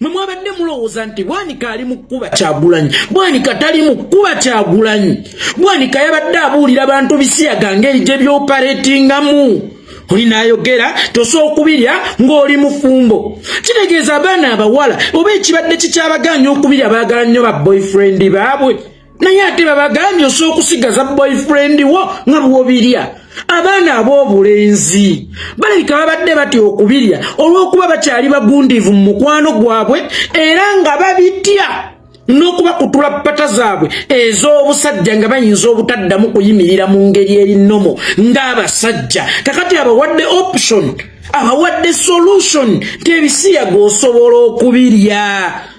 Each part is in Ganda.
mwe mwabadde mulowooza nti bwanika ali mu kkuba kyagulanyi bwanika tali mu kkuba kyagulanyi bwanika yabadde abuulira bantu bisiyaga ngeri gye byoparetingamu oli nayogera tosookubirya ng'oli mufumbo kitegeeza abaana abawala oba ekibadde kikyabagaanya okubirya baagala nnyo ba boyfriend baabwe naye ate babagambye osobola okusigaza boyfriend wo nga bwobirya abaana ab'obulenzi balabika babadde batya okubirya olw'okuba bakyali bagundiivu mu mukwano gwabwe era nga babitya n'okuba kutula ppata zaabwe ez'obusajja nga bayinza obutaddamu kuyimirira mu ngeri erinomo ng'abasajja kakati abawadde option abawadde solution nti ebisiyaga osobola okubirya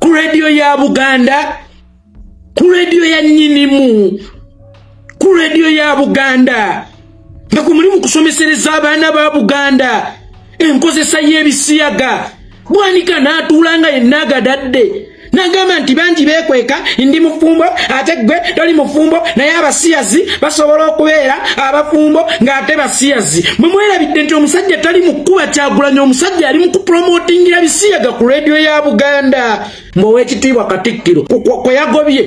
ku rediyo ya buganda ku rediyo ya nyinimu ku rediyo ya buganda nga ku mulimu kusomesereza abaana ba buganda enkozesa y'ebisiyaga bwanika n'atuula nga yenna agadadde nagamba nti bangi bekweka ndi mufumbo ate gwe toli mufumbo naye abasiyazi basobola okubeera abafumbo ng'ate basiyazi mwe mwerabidde nti omusajja tali mu kkuba kyagulanya omusajja ali mu kupromotingira bisiyaga ku leediyo ya buganda ng'owekitiibwa katikkiro kwe yagobye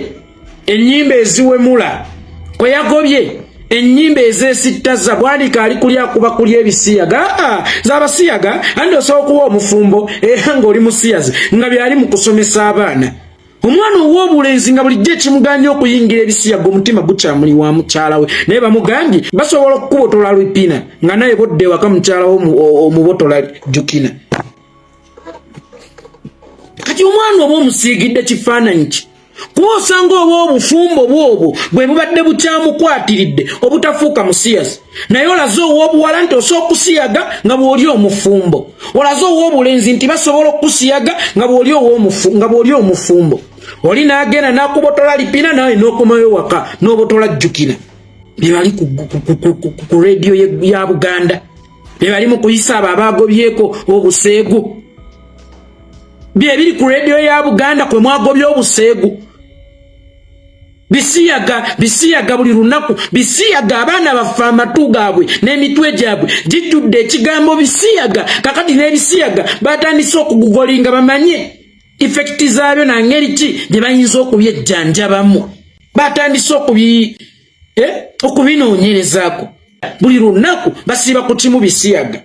ennyimba eziwemula kwe yagobye enyimba ezesittaza bwanika ali kuli akuba kuli ebisiyaga aa zabasiyaga andi osobola okuwa omufumbo era eh, ngaoli musiyazi nga byali mu kusomesa abaana omwana ow'obulenzi nga bulijjo ekimuganya okuyingira ebisiyaga omutima gukyamuli wa mukyala we naye bamugambye basobola okukubotola lupina nga naye bodde ewaka mukyala we omubotola jukina kati omwana oba omusiigidde kifaananyi ki kuba osanga oba obufumbo bwobwo bwe bubadde bukyamukwatiridde obutafuuka musiyazi naye olaze ow'obuwala nti osobola okusiyaga nga bw'oli omufumbo olaze ow'obulenzi nti basobola okusiyaga nga bw'oli nga bw'oli omufumbo oli n'agenda n'akubotola lipina nawe n'okomayo waka n'obotola jjukira be bali ku rediyo ya buganda be bali mu kuyisa abo abaagobyeko obuseegu bye biri ku rediyo ya buganda kwe mwagobya obuseegu bisiyaga bisiyaga buli lunaku bisiyaga abaana baffe amatu gaabwe n'emitwe gyabwe gijjudde ekigambo bisiyaga kakati n'ebisiyaga batandise okugugolinga bamanye ifekiti zaabyo nangeri ki gye bayinza okubyejjanjabamu batandise okubi eh, okubinoonyerezaako buli lunaku basiiba ku kimu bisiyaga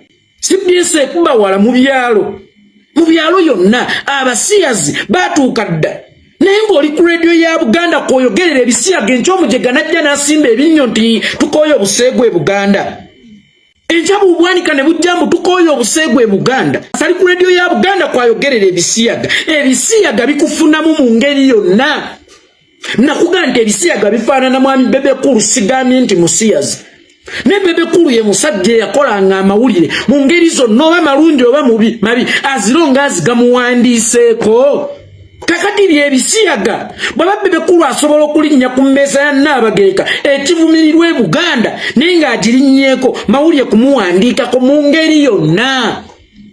cbs ekubawala mu byalo mu byalo yonna abasiyazi batuuka dda naye ng'oli ku rediyo ya buganda kwoyogerera ebisiyaga enkyomujega najja n'asimba ebinnyo nti tukooye obuseegu e buganda enkya bubwanika ne bujja mbu tukooye obuseegu e buganda sali ku rediyo ya buganda kwayogerera ebisiyaga ebisiyaga bikufunamu mu ngeri yonna nakuga nti ebisiyaga bifaanana mwami bebekulu sigamye nti musiyazi ne bebekulu ye musajja eyakolanga amawulire mu ngeri zonna oba malungi oba mubi mabi azironga azigamuwandiiseeko kakati byebisiyaga bwaba bebekulu asobola okulinnya ku mmeeza ya nnaabagereka ekivumirirwa e buganda naye ng'agirinnyeeko mawulire kumuwandiikako mu ngeri yonna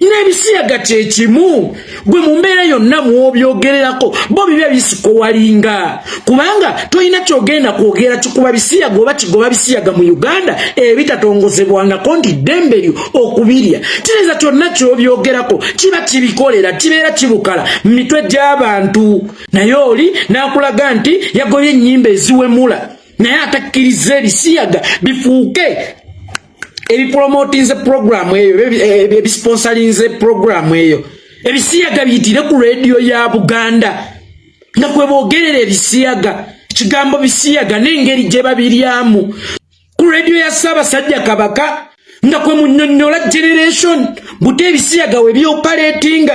n'ebisiyaga kye kimu gwe mu mbeera yonna mw'obyogererako bo biba bisikowalinga kubanga tolina kyogenda kwogera kikuba bisiyaga oba kigoba bisiyaga mu uganda ebitatongozebwangako nti ddembe lyo okubirya kireza kyonna ky'obyogerako kiba kibikolera kibeera kibukala mu mitwe gy'abantu naye oli n'akulaga nti yagobye ennyimba eziwemula naye atakkiriza ebisiyaga bifuuke ebipromotinze programu eyo ebisponsalinze programu eyo ebisiyaga biyitire ku rediyo ya buganda nga kwe bogerera ebisiyaga kigambo bisiyaga n'engeri gye babiryamu ku rediyo ya ssaabasajja kabaka nga kwe munyonyola generation buti ebisiyaga we byopaletinga